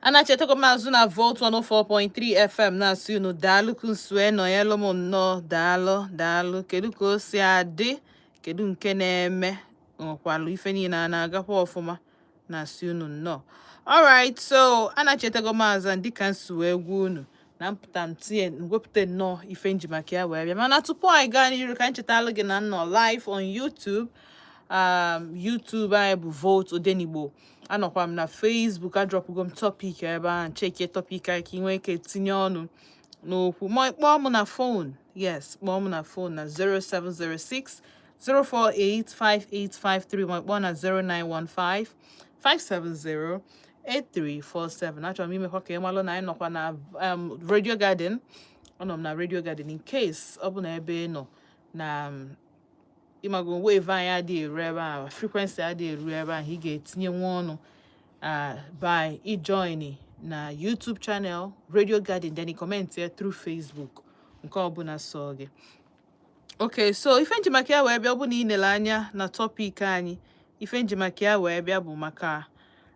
anachitego m azụ na volt 104.3 fm na-asị unu daalụ ka unu si wee nọnyelụ m nnọọ daalụ daalụ kedu ka o si adị kedu nke na-eme nwekwalụ ife niile na-agakwa ọfụma na-asị unu nnọọ alright so anachitego m azụ dịka m si wee gwa unu na m pụta m tinye wepụta nnọọ ife m ji maka ya wee bịa mana tupu anyị gaa n'iru ka m chetalụ gị na m nọ live on YouTube um, YouTube anyị bụ Volt Odenigbo anọkwa m na Facebook adrọpụgo m topic ebe ahụ chekie topic anyị ka ị nwee ike tinye ọnụ n'okwu ma kpọọ m na phone yes kpọọ m na phone na 0706 0485853 ma kpọọ na 0915 570 8347 achọrọ m imekwa ka ị malụ na anyị nọkwa na um, Radio Garden anọ m na Radio Garden in case ọ bụ na ebe ị nọ na um, ịmago wave anyị adịghị eru ebe ahụ frequency adịghị eru ebe ahụ ị ga-etinyenwu ọnụ uh, by ijoini na YouTube channel Radio Garden then comment ya through Facebook nke ọbụla sọ gị okay so ife m ji maka ya wee bịa bụ na i nele anya na topic anyị ife m ji maka ya wee bịa bụ maka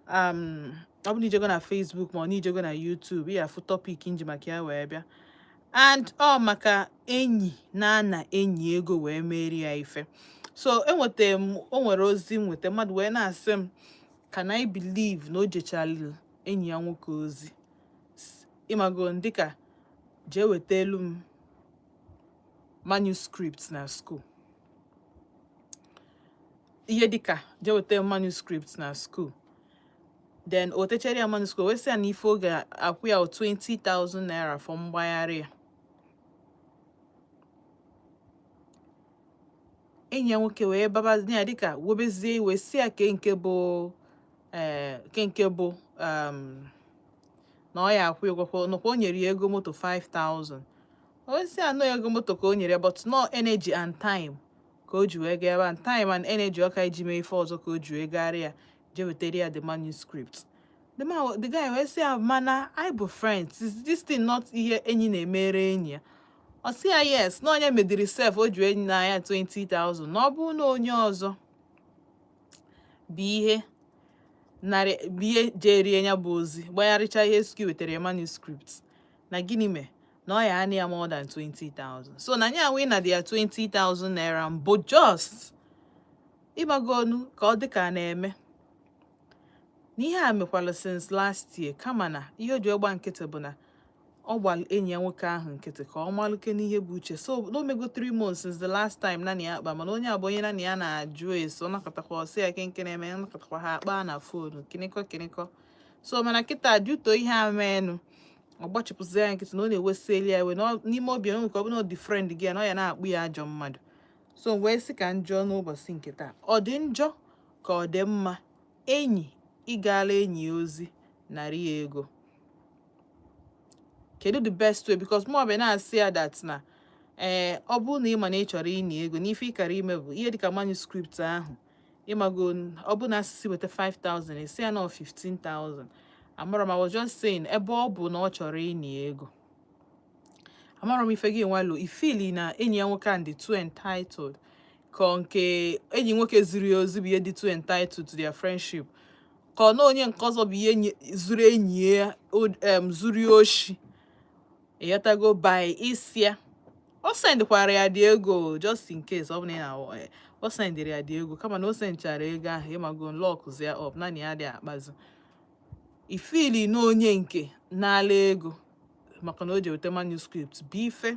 um, ọ bụ na i jego na Facebook ma ọ na i jego na YouTube ị ya-afụ topic m ji maka ya wee bịa and ọ maka enyi na-ana enyi ego wee meere ya ife so enweta m o nwere ozi m nweta mmadụ wee na-asị m can I believe na o jechalụ enyi ya nwoke ozi ịmago dịka jee wetelụ m manuscript na school ihe dịka jee weta manuscript na school then o wetechara ya manuscript wee sị ya na ife ọ ga-akwụ ya 20,000 naira for mgbagharị ya enyi ya nwoke wee babazi ya dịka webezie iwe sị ya ke nke bụ ee eh, ke nke bụ um, na ọ ya-akwụ ụgwọ na ọ kwa o nyere ya ego moto 5000 ọ sị ya na ọ ego moto ka o nyere but no energy and time ka o ji wee gaa ebe and time and energy ọ ka-eji mee ife ọzọ ka o ji wee gaara ya jee wetara ya the manuscript the man the guy wee sị ya mana anyị bụ friends is this thing not ihe enyi na-emere enyi ya ọ sị ya yes na ọ nya medịrị sef o ji ana ya 20,000 na ọ bụrụ na onye ọzọ bụ ihe narị ihe jeere ya bụ ozi gbagharịcha ihe ski wetara manuscript na gịnị mee na ọ ya-ana ya more than 20,000 so na nya wee nadị ya 20,000 naira mbụ just ịmagonu ka ọ dị ka na-eme na ihe a mekwala since last year kama na ihe o ji agba nkịtị bụ na ọ gbara enyi ya nwoke ahụ nkịtị ka ọ malụ kee ihe bụ uche so na o mego three months since the last time nya na ya akpa mana onye a bụ onye nya na ya na-ajụ ese ọ na-akọtakwa ọ sị ya kee nke na-eme ya na-akọtakwa ha akpa na fonu kịnịkọ kịnịkọ so mana kịta due to ihe a meenụ ọ gbachipụzi ya nkịtị na ọ na-ewesịeli ya iwe n'ime obi onwe ka ọ bụ na ọ the friend gị ya na ọ ya na-akpọ ya ajọ mmadụ so wee sị ka m jụọ n'ụbọchị nke taa ọ dị njọ ka ọ dị mma enyi ịgala enyi ya ozi narị ya ego kedu the best way because mụwa bịa na-asị ya that na ee eh, ọ bụrụ na ị ma na ị chọrọ ịna ego n'ife ị gara ime bụ ihe dịka manuscript ahụ ịmago ọ bụ na a sị sị weta 5000 ị sị ya na ọ 15000 amarọ m I was just saying ebe ọ bụ na ọ chọrọ ịna ego amarọ m ife gịnwa lo ị fili na enyi ya nwoke a dị too entitled ka nke enyi nwoke ziri ya ozi bụ ya dị too entitled to their friendship ka ọ na onye nke ọzọ bụ ihe zuru enyi ya zuru ya oshi ịghọtago by ịsị ya o sendịkwara ya the ego just in case ọ bụrụ na eh, o sendịrị ya the ego kama na o sendchara ego ahụ ịmago lọkụzi ya up nya na ya adị akpazi ị fili na onye nke nala ego maka na o ji weta manuscript bụ ife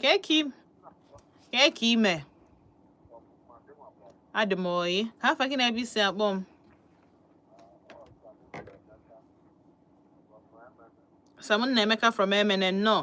Kee ka i kee ka i mee? Adị m ọyị. Kee afa gị na ebe i si akpọ m? Sam Nnaemeka from Emene nnọọ.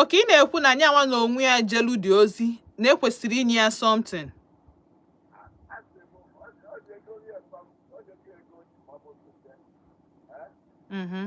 okay ị na-ekwu na nyanwa na onwe ya jelu the ozi na e kwesịrị inye ya something mm-hmm.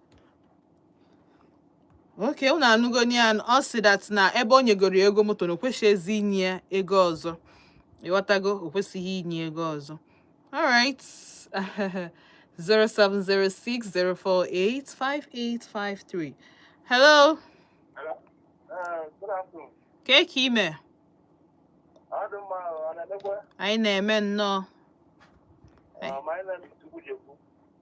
okay unu anụgo ya ọ sị that na ebe o nyegoro ya ego moto na o kwesịghịzi inye ya ego ọzọ ịghọtago o kwesịghị inye ego ọzọ alright 07060485853 hello kee ka i mee anyị na-eme nnọọ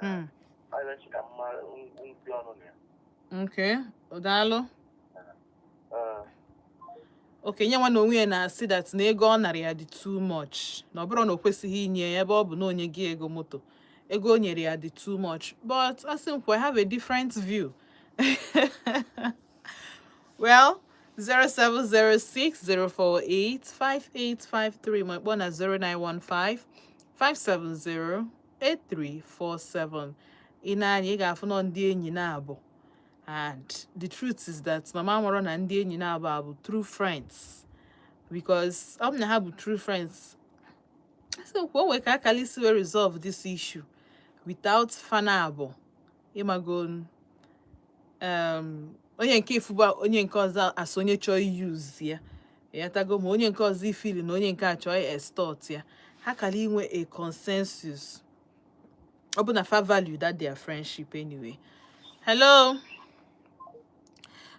Hmm. okay daalụ okay nyanwa na onwe ya na-asị that na ego ọ nara ya dị too much na ọ bụrụ na o kwesịghị inye ya ebe ọ bụ na o nye gị ego moto ego o nyere ya dị too much but asị m kwa I have a different view well 07060485853 ma kpọọ na 0915 570 8347 ị nee anya ị ga-afụ na ọ ndị enyi naabọ and the truth is that mụ amarọ na ndị enyi naabọ a bụ true friends because ọ bụ na ha bụ true friends so kwuo nwee ka akala isi wee resolve this issue without fa naabọ ịmago um, onye nke a ịfụba onye nke ọzọ as onye chọọ i-use ya ịghọtago ma onye nke ọzọ ifili na onye nke a chọọ ị-extort ya ha kara inwe a consensus ọ bụ na fa value that their friendship anyway hello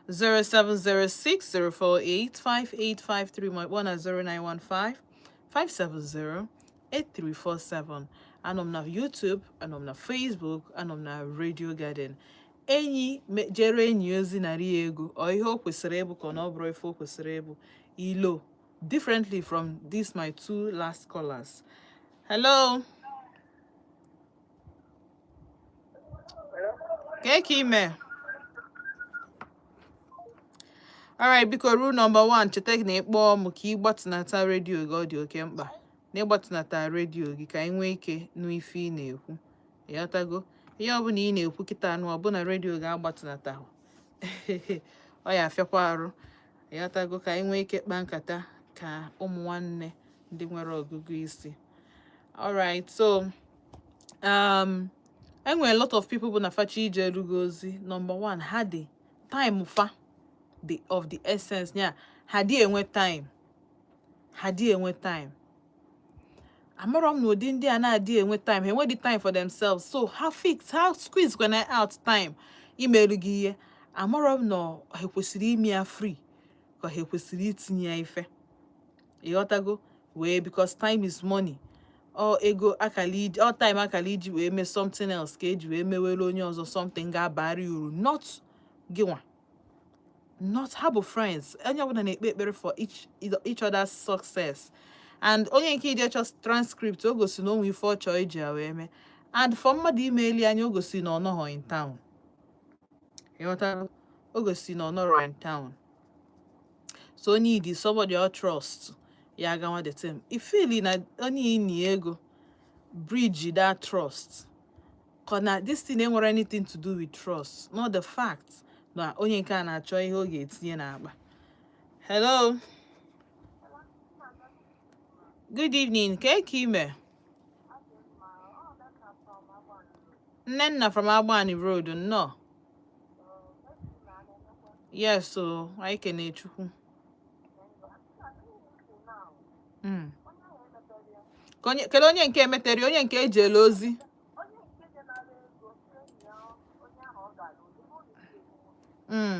0706-048-5853 maọbụ na 0915-570 8347 anọ m na YouTube anọ m na Facebook anọ m na Radio Garden enyi jere enyi ozi narị ego ọ ihe o kwesịrị ịbụ ka ọ na ọ bụrọ ife o kwesịrị ịbụ i lo differently from this my two last callers hello kee ka ị mee alright biko rule number 1 cheta na ị kpọọ m ka ị gbatịnata redio gị ọ dị oke mkpa na ị gbatịnata redio gị ka anyị nwee ike nụ ife ị na-ekwu ịghọtago ihe ọbụla ị na-ekwu kịta anụ ọ bụ na redio gị agbatịnata ọ ya afịakwa arụ ịghọtago ka anyị nwee ike kpaa nkata ka ụmụ nwanne ndị nwere ọgụgụ isi alright so um enwere a lot of people bụ na fa chọọ ijerụ gị ozi number one ha dị time fa of the essence ya ha adị enwe time ha adị enwe time amarọ m na ụdị ndị a na-adị enwe time ha enwedị time for themselves so ha fix ha squeeze kwana out time imerụ gị ihe amarọ m na ha kwesịrị ime ya free ka ha kwesịrị itinye ya ife ịghọtago wee because time is money ọ ego akara iji ọ time akara iji wee mee something else ka eji wee mewere onye ọzọ something ga-abara uru not gịnwa not ha bụ friends onye ọbụla na-ekpe ekpere for each, each other's success and onye nke ije chọ transcript o gosi na o nwe ife ọ chọọ iji ya wee mee and for mmadụ ime eli anya o gosi na ọ nọghọ in town ịghọtara o gosi na ọ nọrọ in town so onye need somebody ọ trust ya agawa the same ifili na onye ini ego breach that trust cause this thing enwerọ anything to do with trust not the fact na onye nke a na-achọ ihe ọ ga-etinye n'akpa hello good evening ka eke ime nnenna from agbani road nnọọ Yes, so anyị kene Chukwu. Hmm. Kedu onye nke emetere onye nke ejele ozi? Hmm.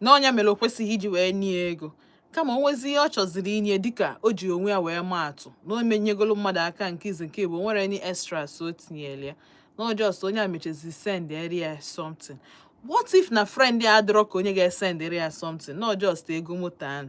na ọ nya mere o kwesịghị iji wee nye ego kama o nwezie ihe ọ chọziri inye dịka o ji onwe ya wee maa atụ na o menyegolo mmadụ aka nke izi nke ịbụọ nwere any extras o tinyere ya na ọ just onye a mechazi sendịrị ya something what if na friend ya adịrọ ka onye ga-esendịrị ya something na ọ just ego moto ahụ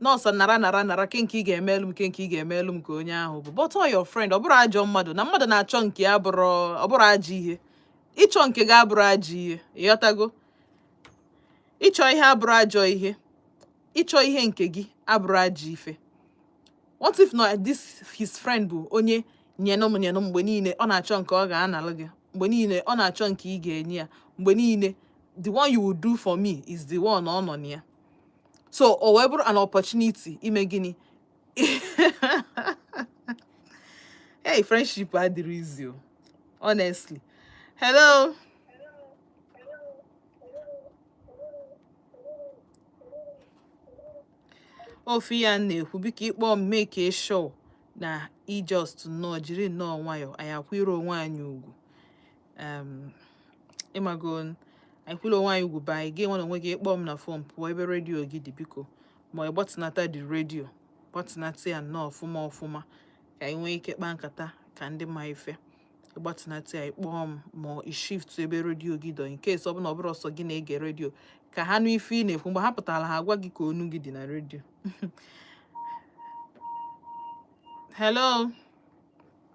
na ọ sọ nara nara nara kee nke ị ga-emelu m kee nke ị ga-emelu m ka onye ahụ bụ but ọ your friend ọ bụrọ ajọ mmadụ na mmadụ na-achọ nke ya abụrọ ọ bụrọ ajọ ihe ịchọ nke gị abụrọ ajọ ihe ịghọtago ịchọ ihe abụrọ ajọ ihe ịchọ ihe nke gị abụrọ ajọ ife what if na this his friend bụ onye nyenụ m nyenụ mgbe niile ọ na-achọ nke ọ ga-analụ gị mgbe niile ọ na-achọ nke ị ga-enye ya mgbe niile the one you will do for me is the one ọ nọ na ya so o wee bụrụ an opportunity ime gịnị hey friendship adịrọ easy o honestly hello ọ ife a na-ekwu biko ị kpọọ m make sure na ị just nnọọ jiri nnọọ nwayọọ anyị akwụrụ onwe anyị ugwu ịmago anyị kwụrụ onwe anyị ugwu be anyị gị nwa na onwe gị ị kpọọ m na fon pụọ ebe redio gị dị biko ma ị gbatịnata the redio gbatịnata ya nnọọ ọfụma ọfụma ka anyị nwee ike kpaa nkata ka ndị ma ife ị gbatịnata ya ị kpọọ m ma ị shift ebe redio gị dị in case ọ bụ na ọ bụrọ sọ gị na-ege redio ka ha nụ ife ị na-ekwu mgbe ha pụtara ha agwa gị ka onu gị dị na redio hello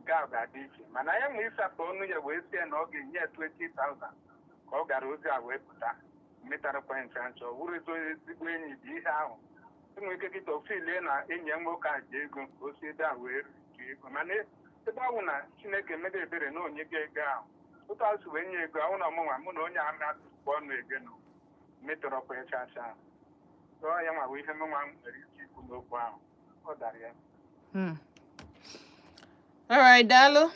nke ahụ ga-adị iche mana ya nwa ịsapụ ọnụ ya wee sị ya na ọ ga-enye ya 20,000 ka ọ gara ozi a wee pụta metarọkwa ncha ncha ọ bụrọ ezi onye ezigbo enyi bụ ihe ahụ o nwere ike kịta ọ filie na enyi ya nwoke a ji ego ka o si ebe a wee rite ego mana ebe ahụ na chineke mere ebere na o nye gị ego ahụ otu e si wee nye ego ahụ na ọ mụnwa mụ na onye a na-atụkwa ọnụ ego na metarọkwa ya chacha so ya nwa bụ ihe mụnwa nwere ike ikwu n'okwu ahụ ọ dara ya hmm. all right daalụ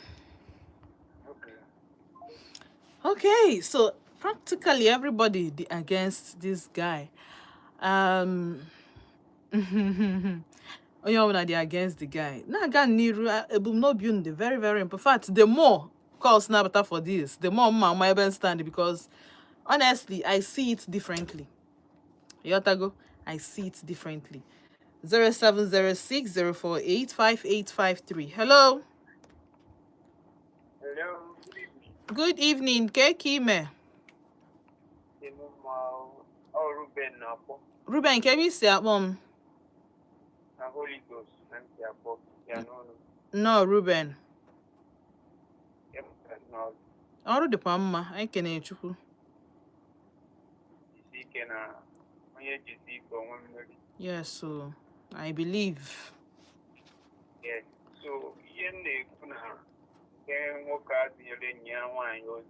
okay so practically everybody dị against this guy um, onye ọbụla dị against the guy na-aga n'iru ebumnobi unu dị very very important in fact the more calls na-abata for this the more m ma-ama ebe m stand because honestly i see it differently Ị ghọtago, I see it differently. 0706 048 5853. Hello. Hello. Good evening, kee ka i me. Ruben, kee ebe i si akpọ m? Holy Ghost, nnọọ, Ruben. Ọrụ dịkwa mma, anyị kenere Chukwu. jisi ike na onye jisi ike o nwee mmeri yes so i believe yes so ihe m na-ekwu na nke nwoke a zinyere enyi ya nwaanyị ozi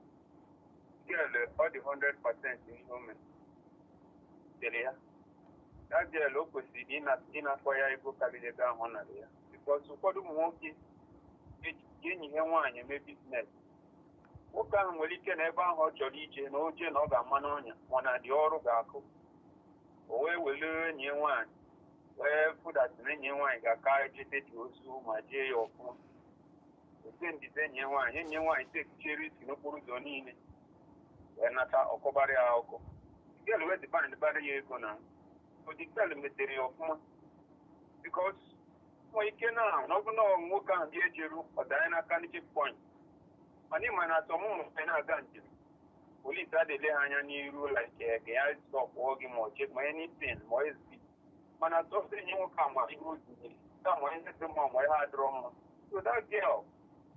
girl ọ dị 100 percent ihe o mere dere ya that girl o kwesịrị ịna- ịnakwa ya ego karịrị ego ahụ ọ nara ya because ụfọdụ ụmụ nwoke ji enyi ha nwaanyị eme business nwoke ahụ nwere ike na ebe ahụ ọ chọrọ ije na o je na ọ ga-ama n'ọnya mana the ọrụ ga-akụ o wee were enyi ya nwaanyị wee find out na enyi ya nwaanyị ga-aka ejete the ozi ma jee ya ọfụma o sendizie enyi ya nwaanyị enyi ya nwaanyị takechara risk n'okporo ụzọ niile wee nata ọ kọbara ya ọkụ girl wee demandbara ya ego na the girl metere ya ọfụma because nwee ike na ọ bụ na nwoke ahụ bịa ejeru ọ danye n'aka ndị checkpoint mana ị ma na asọmụmụ mgbe na-aga njem police adị ele ha anya n'iru like ka ya stọpụọ gị ma ọ check ma anything ma ezbi mana sọsọ enyi nwoke a ma ihe o zinyere ka ma ihe dị mma ma ihe adịrọ mma so that girl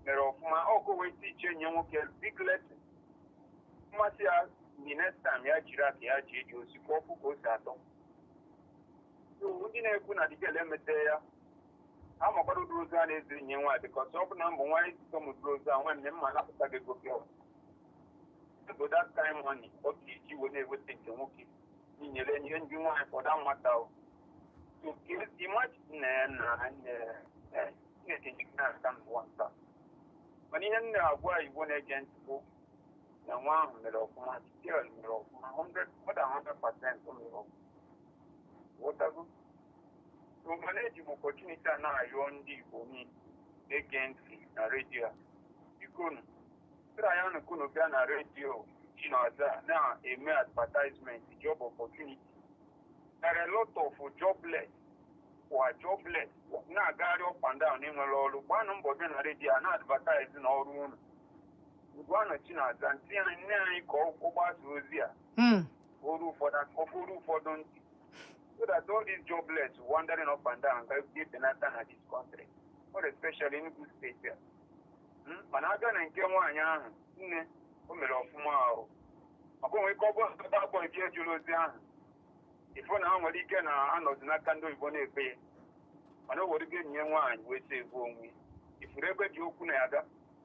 mere ọfụma o kwesị ịteach enyi nwoke big lesson mmasị ya the next time ya jiri aka ya jee eje ozi ka ọ fụ ka o si atọ So, ndị na-ekwu na the girl emete ya ha makwara ụdị ozi a na-eziri enyi nwaanyị because ọ bụ na m bụ nwaanyị ezite m ụdị ozi a nwanne m ma-anapụta gị ego pịọ bụ that kind money ọ ga-eji wee na-eweta nke nwoke n'inyere enyi ndị nwaanyị for that matter o so ka ezi mmachi nna ya na nne ya chineke ji gị na-aka n'ụwa nta mana ihe m na-agwa Igbo na-ege ntị bụ na nwa ahụ mere ọfụma girl mere ọfụma 100 more than 100 percent o mere ọfụma ghọtago so mana eji m opportunity a na-ayọ ndị igbo niile na-ege ntị na redio a bikonu sịra ya nụ ka unu bịa na redio chinaza na-eme advertisement job opportunity there are a lot of jobless kwa jobless na-agagharị up and down ndị nwere ọrụ gbanụ mbọ bịa na redio a na-advertise na ọrụ unu Ugwuanọ Chinaza ntị anyị nne anyị ka ọ gbasa ozi a Mm. o ruo ụfọdụ aka o ruo ụfọdụ ntị so that all these jobless wandering up and down ga-ebute penata na this country more especially Enugu steeti a Mm, mana a gaa na nke nwaanyị ahụ na o mere ọfụma ahụ maka o nwee ike ọ bụrụ that boy jere ozi ahụ ị fụ na ha nwere ike na-anọzi n'aka ndị oyibo na-ekpe ya mana o were ego nye nwaanyị wee sị ebu onwe ya. ị fụrụ ebe m ji okwu na-aga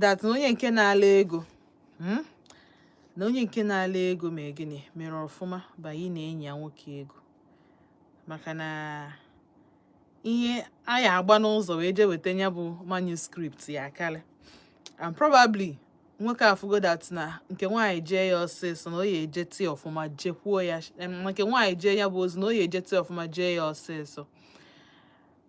that na onye nke na-ala ego hmm? na onye nke na-ala ego ma gịnị mere ọfụma banye na enyi ya nwoke ego maka na ihe a ya agba n'ụzọ wee jee weta ya bụ manuscript ya akarị and probably nwoke afụgo that na nke nwaanyị jee ya ọsịsọ na o ya eje tii ọfụma jekwuo ya nke nwaanyị jee ya bụ ozi na o ya eje tii ọfụma jee ya ọsịsọ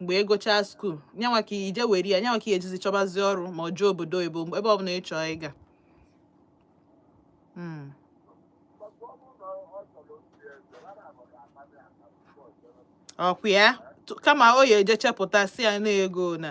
mgbe ị gụchaa skuul nyanwa ka i je were ya nyanwa ka ị ejizi chọbazi ọrụ ma ọ jee obodo oyibo ebe ọ bụla ị chọọ ị ga hmm. ọkwa ya kama o ya eje chepụta sị ya na ego na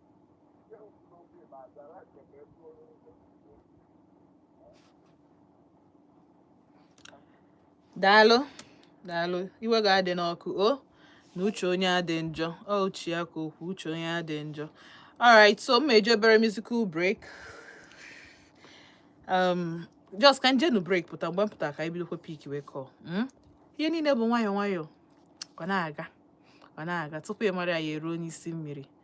daalụ daalụ iwe ga-adị n'ọkụ o na uche onye adị njọ ọ uche ya ka o kwu uche onye adị njọ alright so m eje obere musical break um just ka m jenụ break pụta mgbe m pụta ka anyị bidokwa pickwe call hmm? ihe niile bụ nwayọọ nwayọọ ọ na-aga ọ na-aga tupu ị mara ya eruo n'isi mmiri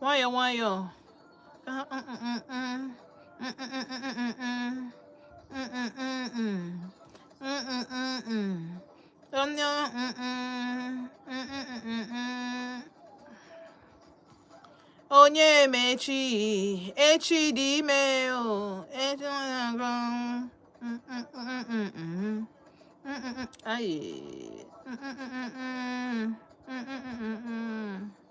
nwayọọ nwayọọ onye onye ma echi echi dị ime o echi na-agụ ayi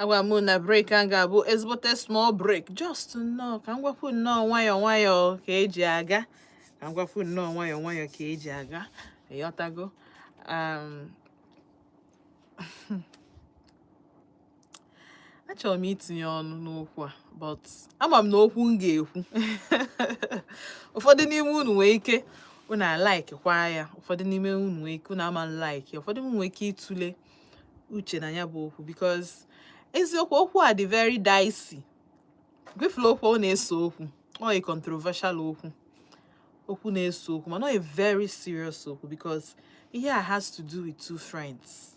agwa m na break a ga-abụ ezigbote small break just nnọọ ka m gwakwu nnọọ nwayọọ nwayọọ ka eji aga ka m gwakwu nnọọ nwayọọ nwayọọ ka eji aga ịghọtago um, achọrọ m itinye ọnụ n'okwu a but ama m na okwu m ga-ekwu ụfọdụ n'ime unu nwee ike unu alike kwa ya ụfọdụ n'ime unu nwee ike unu ama like ụfọdụ unu nwee ike ịtụle uche na ya bụ okwu because eziokwu okwu a dị very dicey gwefula okwu ọ na-ese okwu ọ a controversial okwu okwu na-ese okwu mana ọ very serious okwu because ihe a has to do with two friends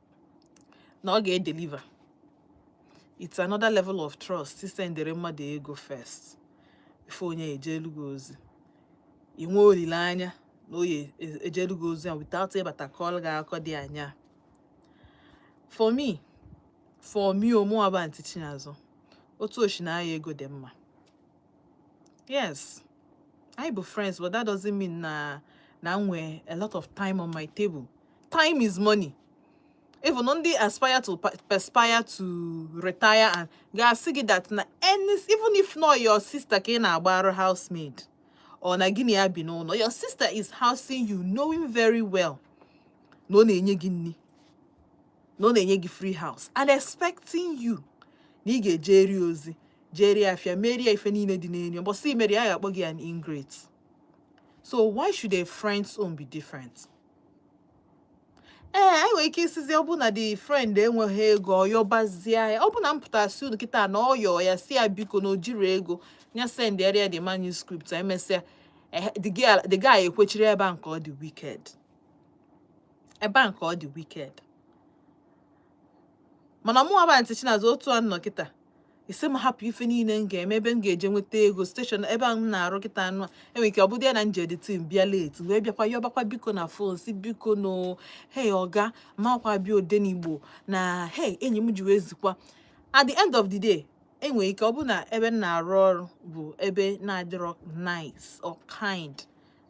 na ọ ga-edeliver it's another level of trust isendere mmadụ ego first before onye ejelu gị ozi inwe olileanya na ọ ya-ejelu gị ozi without ịbata kọlụ gị akọ dị anya for me for me ọ mụwa bụ aunty chinaza otu o shi naa ya ego dị mma yes anyị bụ friends but that doesn't mean na m nwee a lot of time on my table time is money even ndị aspire to perspire to retire and ga-asị gị that na any even if na ọ your sister ka ị na-agbara housemaid or na gị na ya bi n'ụlọ your sister is housing you knowing very well na ọ na-enye gị nri na ọ na-enye gị free house and expecting you na ị ga-ejeri ozi jeri afia merie ife niile dị n'ụnọ mbọsị i merọ ya ga-akpọ gị an ingrate so why should a friend's own be different ee eh, i nwere ike ịsịzị ọ bụ na the friend enweghị ego ọ yọbazie ya ọ bụ na m pụta sị unu kịta na ọ yọọ ya sị ya biko na o jirọ ego nya sendere ya the manuscript emesịa eh, the guy ekwechiri ebe a nke ọ dị wicked ebe a nke ọ dị wicked mana mụwa bụ aunty chinaza otu a nọ kịta ị sị m hapụ ife niile m ga-eme ebe m ga-eje nweta ego station ebe m na-arụ kịta anụ a enwere ike ọ bụdị ya na m je the thing bịa late wee bịakwa yọbakwa biko na phone sị biko na hei ọga makwa bịa odenigbo na hei enyi m ji wee zikwa at the end of the day enwere ike ọ bụ na ebe m na-arụ ọrụ bụ ebe na-adịrọ nice or kind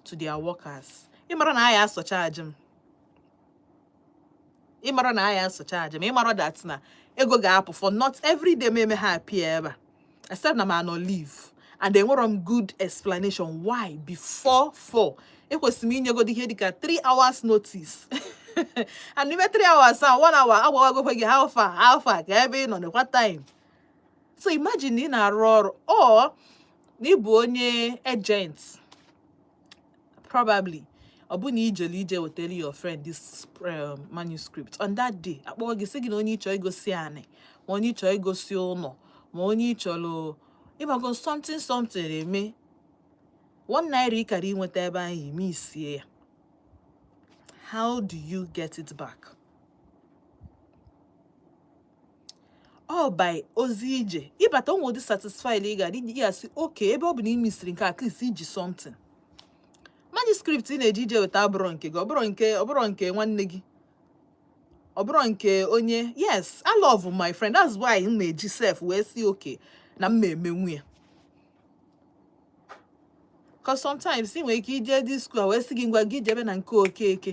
to their workers ị mara na a ya-asurcharge m ịmara na a ya-asurcharge m ịmara that na ego ga-apụ for not every day meme ha appear ebe a except na m anọ leave and enwere m good explanation why before four ekwesịrị m inyegodi ihe dịka three hours notice and n'ime three hours a one hour agwawagokwe gị how far how far kee ebe ị nọ nekwa time so imagine na ị na-arụ ọrụ or na ịbụ onye agent probably ọ bụ na ijelu ije wetara your friend this um, manuscript on that day akpọọ gị sị gị na onye ịchọ igosi anị ma onye ịchọ igosi ụlọ ma onye ịchọrọ ịbago something something eme one naira ịkara inweta ebe ahụ ị misie ya how do you get it back? or by ozi ije ịbata onwe ụdị satisfied ị ga-adị ya asị okay ebe ọ bụ na ị misiri nke at least iji something manuscript ị na-eji ije weta abụrọ nke gị ọbụrọ nke ọbụrọ nke nwanne gị ọbụrọ nke onye yes I love my friend that's why m na-eji sef wee si okay na m na-emenwu ya cause sometimes ị nwere ike ije dị skuul a wee sị gị ngwa gị jebe na nke okeke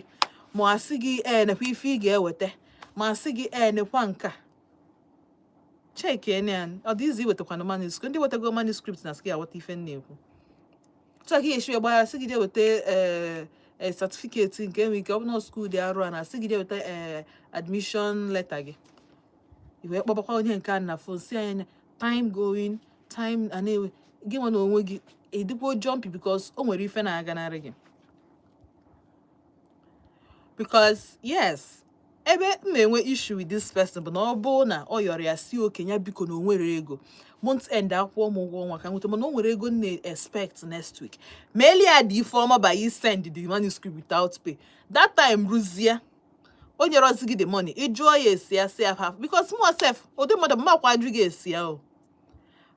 ma asị gị ee nekwa ife ị ga-eweta ma asị gị ee nekwa nke a cheki ene ọ dị izi iwetakwana manuscript ndị wetago manuscript na sị gị awọta ife m na-ekwu tụọ ka esi gbara asị gị je weta ee eh, satifiketi eh, nke enwe ike ọ bụ na skuul dị arụ a na asị gị je weta ee eh, admishọn leta gị iwee kpọbakwa onye nke a na fon si anya time going time a na-ewe gị nwa na onwe gị adịkwa jumpy because o nwere ife na-aganarị gị because yes ebe m na-enwe issue with this person bụ na ọ bụ na ọ yọrọ ya si okenye biko na onwere ego month end akwụọ m ụgwọ ọnwa ka m nweta mana o nwere ego m na-expect next week meeli ya dị ife ọma by send the manuscript without pay that time ruzie o nyerọzi gị the money ị jụọ ya esi ya si how far because mụ sef ụdị mmadụ m makwa ajụ gị esi ya o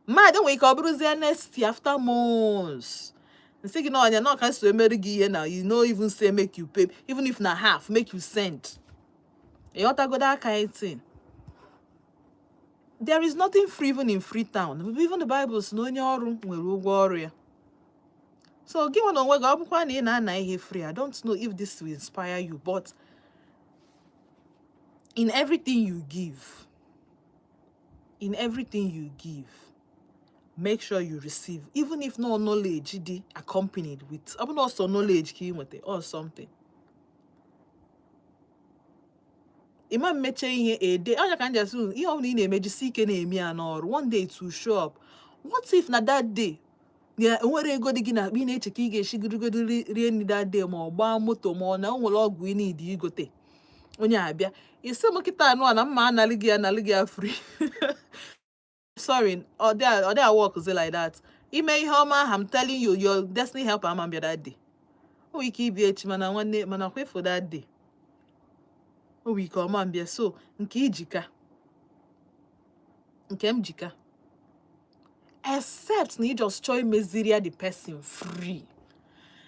mmadụ nwere ike ọ bụrụzie next year after months m sị gị na ọnya na okay so emere gị ihe na you no even say make you pay even if na half make you send ịghọtago that kind thing there is nothing free even in freetown even the bible si na onye ọrụ nwere ụgwọ ọrụ ya so gị nwa na onwe gị ọ bụkwa na ị na-ana ihe free i don't know if this will inspire you but in everything you give in everything you give make sure you receive even if na ọ knowledge dị accompanied with ọ bụrụ ọ sọ knowledge ka ị nweta or something ịma mmeche ihe ede ọ ya ka m ji asị ihe ọ bụla ị na-eme jisi ike na-eme ya na o ruo one day it show up what if na that day ya enwere ego dị gị na akpa ị na-eche ka ị ga-esi jirigodo rie nri that day ma ọ gbaa moto ma ọ na o nwere ọgwụ ị needi igote onye abịa ị sị m kịta anụ a na m ma analị gị analị gị ya free sorry ọ dịghị awọkzi like that ime ihe ọma ahụ I'm telling you your destiny helper ama mbịa that day o nwere ike ịbịa echi mana nwanne mana kwa for that day o nwere ike ọ ma mbịa so nke i ji ka nke m ji ka except na ị just chọọ imeziri ya the person free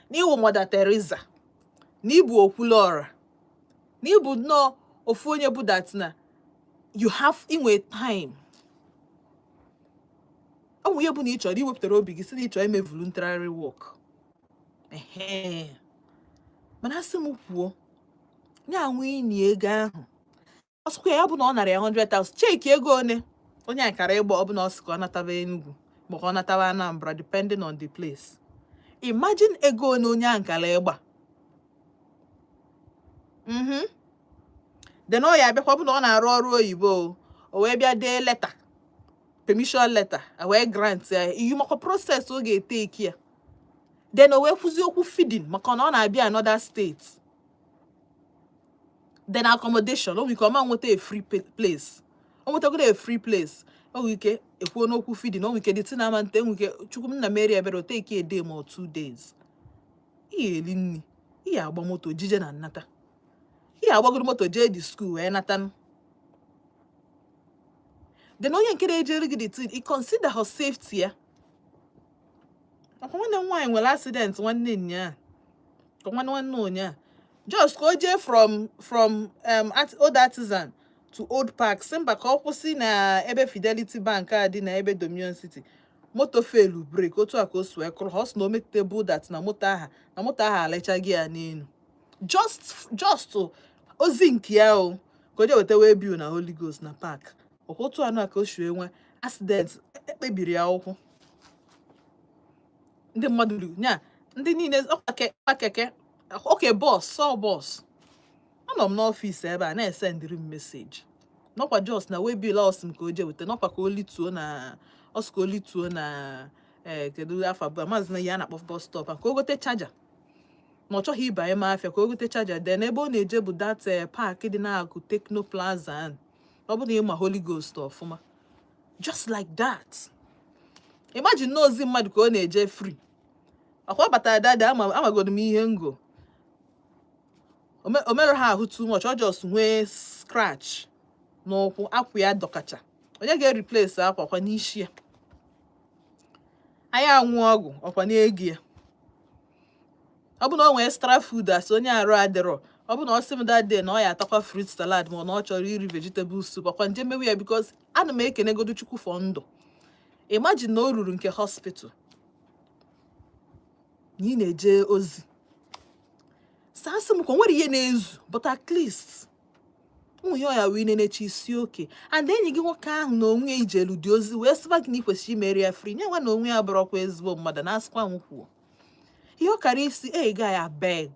na ị wụ Mother Teresa na ị bụ Okwuluọra na ị bụ nnọọ ofu onye bụ that na you have inwe time ọ bụ ihe bụ na ị chọrọ iwepụtara obi gị sị na ị chọrọ ime voluntary work mana a sị m kwuo ya anwe inye ego ahụ ọ sịkwa ya bụ na ọ nara ya 100,000 cheki ego one onye ahụ kara ịgba ọ bụ na ọ sị ka ọ nataba Enugu ma ka ọ nataba Anambra depending on the place imagine ego one onye ahụ kara ịgba mhm then ọ ya abịakwa bụ na ọ na-arụ ọrụ oyibo o wee bịa dee letter permission letter e wee grant ya ị makwa process ọ ga-eteki ya then e wee kwuzi okwu feeding maka na ọ na-abịa another state then accommodation o nwere ike ọ ma nweta a free place o nwetagodo a free place o nwere ike e kwuo n'okwu feeding o nwere ike the thing ama nte o nwere ike chukwu nna mere ebere o take a day ma ọ two days i ya-eli nni ị ya-agba moto jije na nnata ị ya-agbagoro moto jee the school wee nata then onye nke na-ejere gị the thing i consider her safety ya ọkwa nwanne m nwaanyị nwere accident nwanne ụnyaa ka nwanne nwanne ụnyaa just ka o jee from from um, old artisan to old park sị mba ka ọ kwụsị na ebe fidelity bank a dị na ebe dominion city moto failụ brake otu a ka o si wee kụrụ ha ọ sị na o metụta bụ that na moto ahụ na moto ahụ alịchaghị ya n'elu just just ozi nke ya o ka o jee weta waybill na holy ghost na park ọkwa otu anụ a ka o si enwe accident ekpebiri ya ụkwụ ndị mmadụ ruru ya ndị niile ọkwa keke okay bus sọ bus anọ m n'ọfịs ebe a na-esendịrị m message na ọkwa just na waybill a ọ sị m ka o jee weta na ọkwa ka o lituo na ọ sị ka o lituo na ee eh, kedu afa ọ bụ maazị na ihe a na-akpọ bus stop ka o gote charger na ọ chọghị ịbanye ime afịa ka o gote charger then ebe ọ na-eje bụ that eh, park dị n'akụkụ Tecno plaza ọ bụ na ịma Holy Ghost ọfụma just like that imagine na ozi mmadụ ka ọ na-eje free akwa batara dada amagodu m ihe ngo o merụghị ahụ too much ọ just nwee scratch n'ụkwụ akwa ya dọkacha onye ga-ereplace akwa ọkwa n'isi ya ọ ya aṅụ ọgwụ ọkwa n'ego ya ọ bụ na ọ nwee extra food as onye arụ adịrọ ọ bụ na ọ sị m that day na ọ ya atakwa fruit salad ma na ọ chọrọ iri vegetable soup ọkwa m je mewe ya because ana m ekenegodu Chukwu for ndụ imagine na o ruru nke hospital na ị na-eje ozi sasị m ka o nwere ihe na-ezu but at least ụmụ ya ọya wee na-eche ị sị okay and enyi gị nwoke ahụ na onwe ya i jelu the ozi wee sịba gị na ị kwesịrị imeri ya free nya nwa na onwe ya bụrọkwa ezigbo mmadụ na asịkwa m kwuo ihe ọ kara ịsị eh guy abeg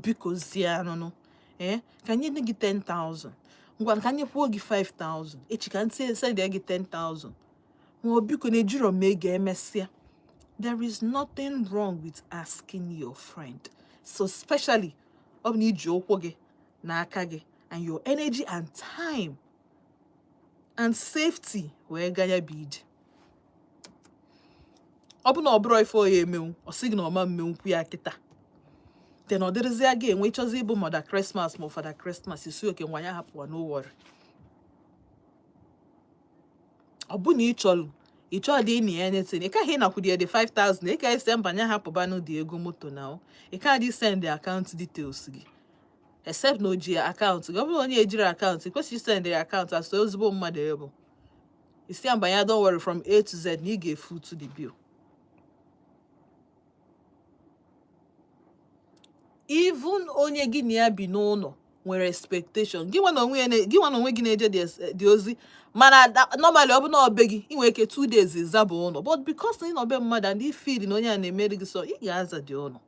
bikozienụnụ ee eh, ka m nye gị 10,000 ngwa ka m nyekwuo gị 5000 echi ka m send gị 10000 ma ọ biko na ejiro m ego emesịa there is nothing wrong with asking your friend so especially ọ bụ na i ji ụkwụ gị na aka gị and your energy and time and safety wee gaa ya bụ ije ọ bụ na ọ bụrọ ife ọ ya emenwu ọ sị gị na ọ ma emenwukwu ya kịta then ọ dịrịzịa gị nwa ịchọzi ịbụ Mother Christmas ma ọ Father Christmas ị sị okay ngwa ya hapụwa no worry ọ bụ na ị chọrọ ị chọọ dị ịna ya anything ị kaghị ịnakwudị the 5000 ị ka asị mba nya hapụbanụ the ego moto na ị ka dị send account details gị except na o ji account gị ọ bụrụ onye ejirọ account ị kwesịrọ send account as ezigbo mmadụ ị bụ ị sị ya mba nya don't worry from A to Z na ị ga-efoot the bill even onye gị na ya bi n'ụlọ nwere expectation gị nwa na onwe gị na-eje the ozi mana normally ọ bụ na ọ be gị ị nwere ike two days zaba ụlọ but because ị nọ be mmadụ and ị feel na onye a na-emeri gị so ị ga-aza the ụlọ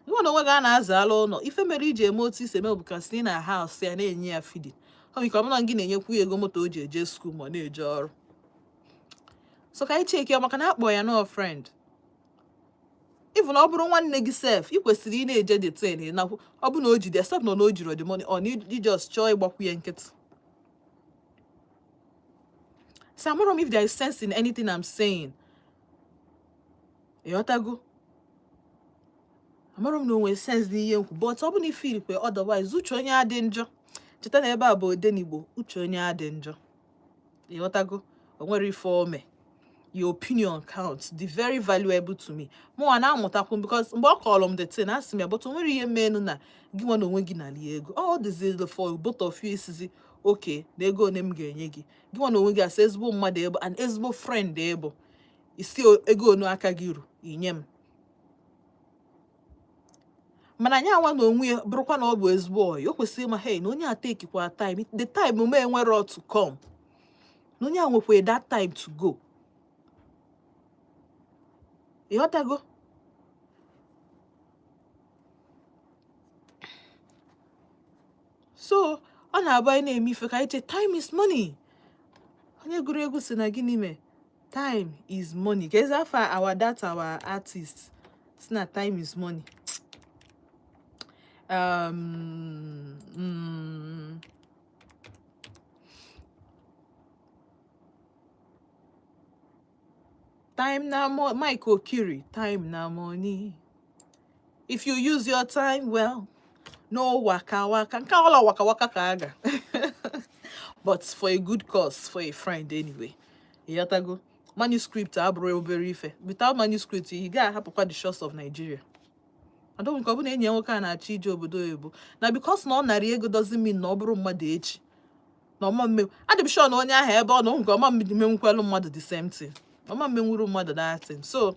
gị nwa na onwe gị a na-azala ụlọ ife mere i ji eme otu i si eme because ị na-ahouse ya na-enye ya feeding o nwere ike ọ bụrụ gị na-enyekwu ya ego moto o ji eje school ma ọ na-eje ọrụ so ka anyị checkie ya maka na akpọ ya nọọ friend even ọ bụrụ nwanne gị sef ị kwesịrị ị na-eje the thing nakwu ọ bụ na o jide except na o jirọ the money or na ị just chọọ ịgbakwu ya nkịtị So I'm wondering if there is sense in anything I'm saying. ịghọtago amara m na o nwee sense n'ihe m kwu but ọ bụ na ị feel kwa otherwise uche onye adị njọ cheta na ebe a bụ odenigbo uche onye adị njọ ịghọtago o nwere ife o me your opinion counts dị very valuable to me mụnwa na-amụtakwu because mgbe ọ kọrọ m the thing asị m ya but o nwere ihe menu na gị nwa na onwe gị nalị ego ọ dịzịlị for both of you ị sịzị okay na ego one m ga-enye gị gị nwa na onwe gị as ezigbo mmadụ ị bụ and ezigbo friend ị bụ ị sị ego one aka gị ru i nye m mana nya nwa na onwe ya bụrụkwa na ọ bụ ezigbo ọyị o kwesịrị ịma hei na onye a takekwa time the time e nwere to come na onye a nwekwa that time to go ịghọtago so ọ na-abụ anyị na-eme ife ka anyị che time is money onye gụrụ egwu sị na gịnị mee time is money ka ezi afọ our that our artist si na time is money um, mm, time na mo mike okiri time na money if you use your time well no waka waka nke a all waka waka ka a ga but for a good cause for a friend anyway ịghọtago manuscript abụrọ obere ife without manuscript ị ga ahapụkwa the shores of Nigeria I don't care ọ bụ na enyi nwoke a na-achọ ije obodo oyibo na because na ọ narị ego doesn't mean na ọ bụrọ mmadụ echi na ọ ma mmenwu adị m sure na onye ahụ ebe ọ nọ nke ọma mmenwukwelu mmadụ the same thing ọ ma mmenwuru mmadụ that thing so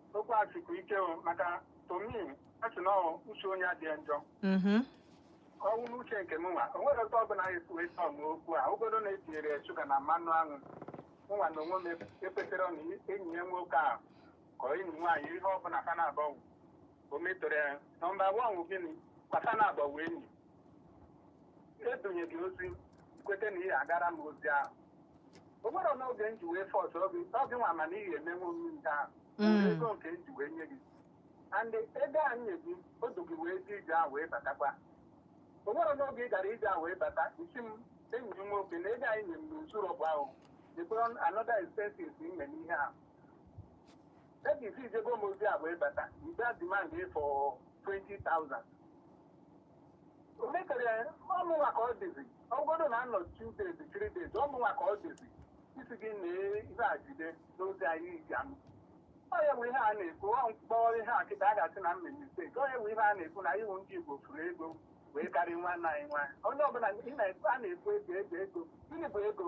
okwu a sikwa ike o maka to me a sị na ọ uche onye adị njọ Mhm. ọ wụ n'uche nke m nwa o nwere otu ọbụla anyị kwuo ịtọ m okwu a ọ bụgodu na e tinyere ya shuga na mmanụ aṅụ mụ nwa na onwe m ekwetara na enyi ya nwoke a ka enyi nwaanyị ihe ọbụla fa naabọ wụ. o metọrọ ya number one wụ gịnị kwa fa naabọ wụ enyi e dunye gị ozi kweta na ị ya-agara m ozi ahụ o nwere n'oge m ji wee force gị gị nwa ma na ị ga-emenwu m nke ahụ Mm. ego nke m ji wee nye gị and ego a nye gị o du gị wee jee ije ahụ wee batakwa o nwere n'oge ị gara ije ahụ wee bata ị sị m enyi m nwoke na ego a i nye m na o zurọ bụ ahụ dịkwara another expenses m mee n'ihe ahụ ebe i si jebe m ozi a wee bata ị bịa demand for 20,000 O mekere ọ mụnwa ka ọ dịzi ọ bụgodu na a nọ two days three days ọ mụnwa ka ọ dịzi ị sị gị na ihe a jide n'oge anyị iji anụ ọ ya bụ ihe a na-ekwu ọ m kpọọ ihe a kịta a ga-asị na m mee mistake ọ ya bụ ihe a na-ekwu na anyị wụ ndị Igbo fụrụ ego wee karịa nwanne anyị nwa onye ọbụla ị na-ekwu a na-ekwu ego ego ego gịnị bụ ego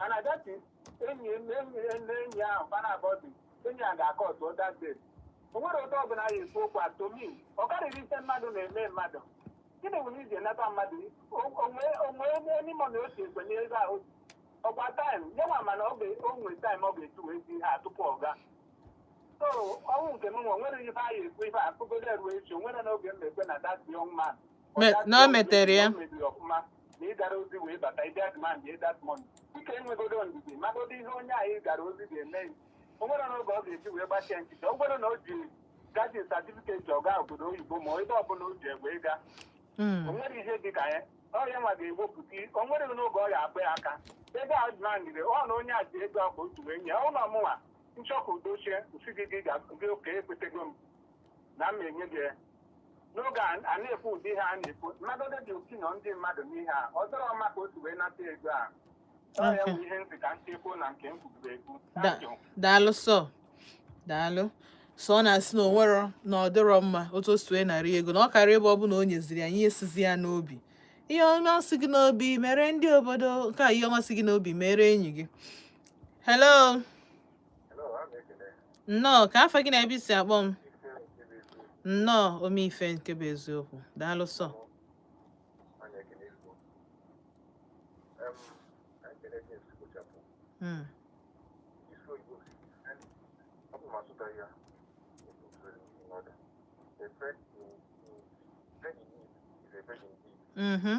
And at that is, enyi m enyi ya na enyi ahụ fa naabọ dị enyi a ga-akọ ọtụ that day o nwere otu ọbụla ya ekwu okwu atomi ọ karịrị ife mmadụ na-eme mmadụ gịnị bụ na i ji anata mmadụ onwe onye n'ime na otu ekwe n'ego ahụ ọ kwa time nyenwa mana ọ ga- o nwere time ọ ga-eji wee zi ha tupu ọ gaa so ọnwụ nke m nwe nwere ife a ya-ekwu ife akụgodo eruo echi o nwere n'oge m na-ekwe na that young man na o metere ya na ị gara ozi wee bata ị bịa demand that money dịka nwegodu ndidi magodu ihe onye anyị gara ozi ga-eme o nwere n'oge ọ ga-eji wee gbachie nkịtị o nwere na o ji gaji certificate aga obodo oyibo ma ebe ọbụla o ji egbe ịga hmm. o nwere ihe dị ka ya ọrịa nwa ga-ewepụta o nwere n'oge ọ ga-akpa ya aka ebe a demandịrị ọ na onye a ji ego akpa otu wee nye ụlọ mụnwa m chọ ka udo chie m sị gị gị okay ekwetego m na m enye gị ya. n'oge a a na-ekwu ụdị ihe a na-ekwu mmadụ ole dị otu nọ ndị mmadụ n'ihe a ọ dịrọ mma ka o si wee nata ego a ọ ya Okay. bụ ihe m sị ka m tiyekwu na nke m kwuru ekwu Da- Thank you. daalụ sọ daalụ sọ ọ na-asị na o nwerọ na ọ dịrọ mma otu o si wee narị ego na ọ karịa ebe ọ bụ na o nyeziri ya ihe sizi ya n'obi ihe ọma si gị n'obi mere ndị obodo nke a ihe ọma si gị n'obi mere enyi gị hello nnọọ kee afa gị na ebe i si akpọ m nnọọ omeife nke bụ eziokwu daalụ sọ hmm. Mm-hmm.